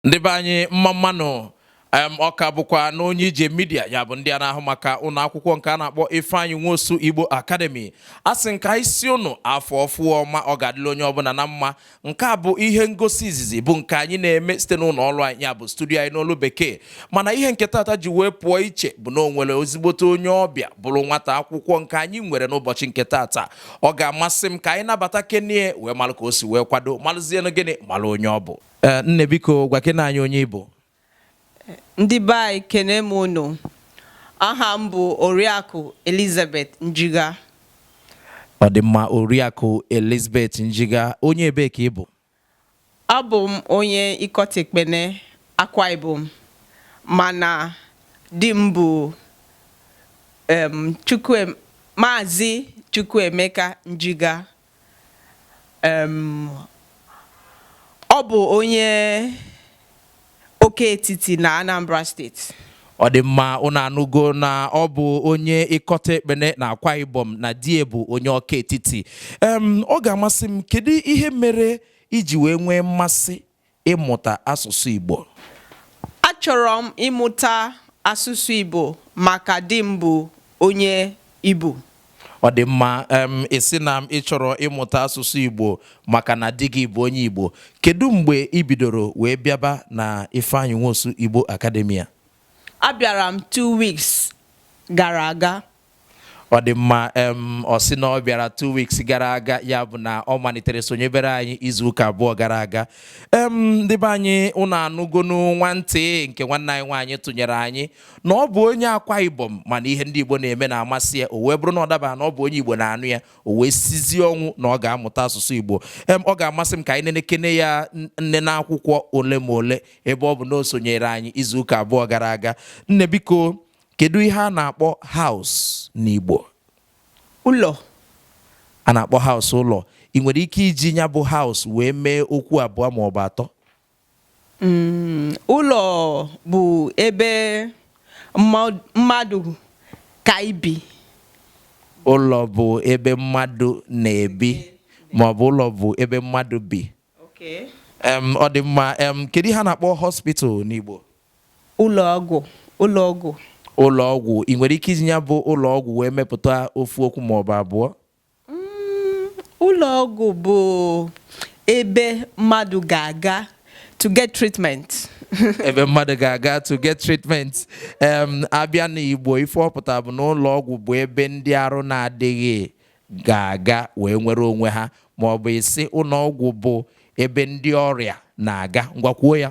ndị be anyị mma mma nụ ọ ka bụkwa na onye ije midia ya bụ ndị a na-ahụ maka ụlọ akwụkwọ nke a na-akpọ Ifeanyi Nwosu Igbo Academy a sị ka anyị sị ụnụ afọ ọfụọ ọma ọ ga-adịla onye ọbụla na mma nke a bụ ihe ngosi izizi bụ nke anyị na-eme site n'ụlọ ọrụ anyị ya bụ studio anyị n'olu bekee mana ihe nke tata ji wee pụọ iche bụ na o nwere ozigbote onye ọbịa bụrụ nwata akwụkwọ nke anyị nwere n'ụbọchị nke tata ọ ga-amasị m ka anyị nabatakene ya wee malụ ka o si wee kwado malụzienụ gịnị malụ onye ọ bụ Eh, nne biko gwakene anyị onye ị bụ ndị be anyị ekene m unu aha m bụ oriakụ elizabeth njiga ọ dị mma oriakụ elizabeth njiga onye ebe ka ị bụ abụ m onye ikot ekpene akwa ibom mana di m bụ maazị chukwuemeka njiga Um Ọ bụ onye Ọka-Etiti na Anambra State. Ọ dị mma, ụnụ anụgo na ọ bụ onye Ikot Ekpene na Akwa Ibom na di ya bụ onye Ọka-Etiti. Um Ọ ga-amasị m, kedu ihe mere i ji wee nwee mmasị ịmụta asụsụ Igbo? Achọrọ m ịmụta asụsụ Igbo maka di m bụ onye Igbo. Ọ dị mma, um ị sị na ị chọrọ ịmụta asụsụ Igbo maka na di gị bụ onye Igbo. Kedu mgbe i bidoro wee bịaba na Ifeanyi Nwosu Igbo Academy a? Abịara m two weeks gara aga. Ọ dị mma em ọ sị na ọ bịara two weeks gara aga ya bụ na ọ malitere sonyebere anyị izu ụka abụọ gara aga em ndị be anyị ụnụ anụgonụ nwantị nke nwanne anyị nwaanyị tụnyere anyị na ọ bụ onye akwa ibom mana ihe ndị igbo na-eme na-amasị ya o wee bụrụ na ọ daba na ọ bụ onye igbo na-anụ ya o wee sizie ọnwụ na ọ ga-amụta asụsụ igbo em ọ ga-amasị m ka anyị nenekene ya nnene akwụkwọ ole ma ole ebe ọ bụ na o sonyere anyị izu ụka abụọ gara aga nne biko Kedu ihe a na-akpọ house n'Igbo? Ụlọ. A na-akpọ house ụlọ. Ị nwere ike iji ya bụ house wee mee okwu abụọ ma ọ bụ atọ? Mm, ụlọ bụ ebe mmadụ ka ibi. Ụlọ bụ ebe mmadụ na-ebi ma ọ bụ ụlọ bụ ebe mmadụ bi. Okay. Ọ dị mma. Kedu ihe a na-akpọ hospital n'Igbo? Ụlọ ọgwụ, ụlọ ọgwụ. Ụlọ ọgwụ, I nwere ike iji ya bụ ụlọ ọgwụ wee mepụta ofu okwu ma ọ bụ abụọ? Mm, ụlọ ọgwụ bụ ebe mmadụ ga-aga to get treatment. ebe mmadụ ga-aga to get treatment em abịa n'Igbo ife ọ pụtara bụ na ụlọ ọgwụ bụ ebe ndị arụ na-adịghị ga-aga wee nwere onwe ha ma ọ bụ ịsị ụlọ ọgwụ bụ ebe ndị ọrịa na-aga ngwa kwuo ya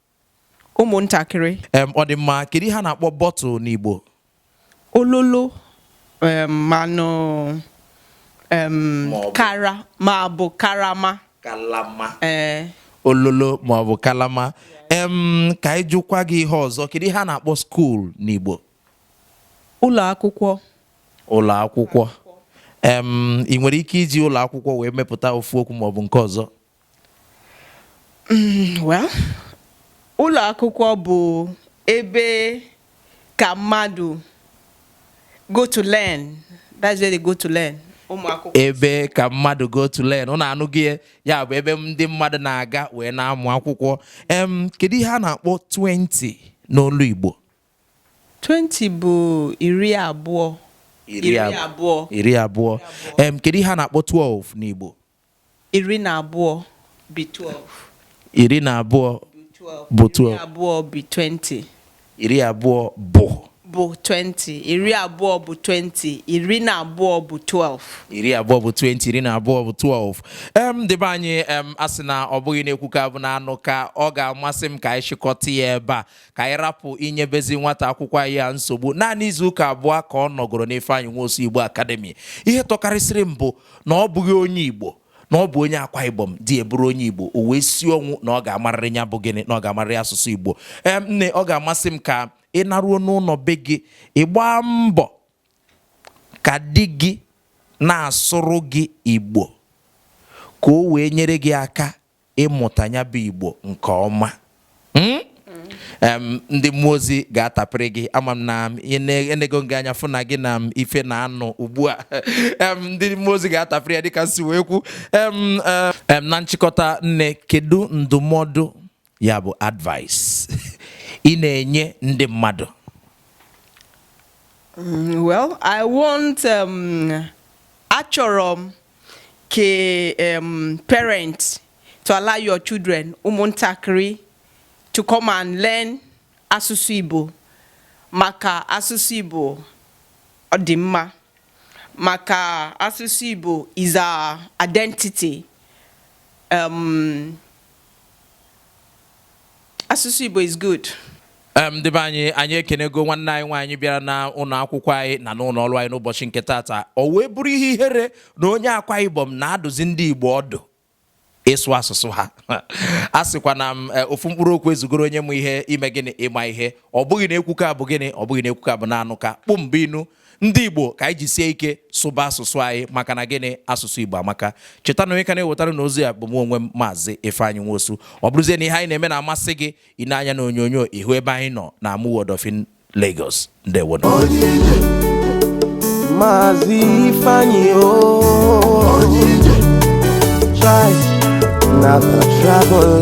ụmụntakịrị em ọ dị mma kedu ihe a na-akpọ bottle n'Igbo ololo em, manụ em, Ma ọ bụ- kara ma ọ bụ karama kalama ee ololo ma ọ bụ kalama em ka anyị jụkwa gị ihe ọzọ kedu ihe a na-akpọ school n'Igbo ụlọ akwụkwọ ụlọ akwụkwọ em ị nwere ike iji ụlọ akwụkwọ wee mepụta ofu okwu ma ọ bụ nke ọzọ Mm, well, ụlọ akwụkwọ bụ ebe ka mmadụ go to learn. That's where they go to learn. ebe ka mmadụ go to learn ụnụ anụghị ya ya bụ ebe ndị mmadụ na-aga wee na-amụ akwụkwọ em kedu ihe a na-akpọ 20 n'olu Igbo 20 bụ iri abụọ iri abụọ iri abụọ em kedu ihe a na-akpọ 12 n'Igbo Iri na abụọ bi twelve. Iri na abụọ bụ twelve. Iri abụọ bi twenty. Iri abụọ bụ. Bụ twenty. Iri abụọ bụ twenty. Iri na abụọ bụ twelve. iri abụọ bụ 20 iri na abụọ bụ 12 em ndị be anyị em a sị na ọ bụghị na-ekwuka bụ na-anụka ọ ga-amasị m ka anyị chịkọta ya ebe a ka anyị rapụ inyebezi nwata akwụkwọ anyị a nsogbu naanị izu ụka abụọ ka ọ nọgoro n'Ifeanyị Nwosu Igbo Academy ihe tọkarịsịrị m bụ na ọ bụghị onye Igbo na ọ bụ onye Akwa Ibom di ya bụrụ onye Igbo o wee si ọnwụ na ọ ga-amarịrị ya bụ gịnị na ọ ga-amarịrị asụsụ Igbo ee nne ọ ga-amasị m ka ị naruo n'ụlọ be gị ị gbaa mbọ ka di gị na-asụrụ gị Igbo ka o wee nyere gị aka ịmụta ya bụ Igbo nke ọma hmm? ndị mmụọ ozi ga-atapịrị gị ama m na enego m gị anya fụ na gị na ife na-anụ ugbu a ndị mmụọ ozi ga-atapịrị ya dịka m si wee kwu eh, na nchịkọta nne kedu ndụmọdụ ya bụ advice ị na-enye ndị mmadụ mm, well I want um, achọrọ m ka um, parents to allow your children ụmụntakịrị to come and learn asụsụ Igbo maka asụsụ Igbo ọ dị mma maka asụsụ Igbo is our identity um, Asụsụ Igbo is good. Em, ndị be anyị anyị ekenego nwanne anyị nwaanyị bịara na ụlọ akwụkwọ anyị na n'ụlọ ọrụ anyị n'ụbọchị nke tata o wee bụrụ ihe ihere na onye Akwa Ibom na-adụzi ndị igbo ọdụ ịsụ asụsụ ha a sịkwa na m eh, ofu mkpụrụ okwu ezugoro onye ma ihe ime gịnị ịma ihe ọ bụghị na ekwuka bụ gịnị ọ bụghị na ekwuka bụ na anụka kpụ mbụ inu ndị igbo ka anyị jisie ike sụba asụsụ anyị maka na gịnị asụsụ igbo amaka cheta na onye ka na-ewetara unu ozi a bụ mụ onwe m maazị Ifeanyị Nwosu ọ bụrụzie na ihe anyị na-eme na-amasị gị i nee anya na onyonyo ị hụ ebe anyị nọ na Amuwo Odofin Lagos ndewo maazị Ifeanyị na travel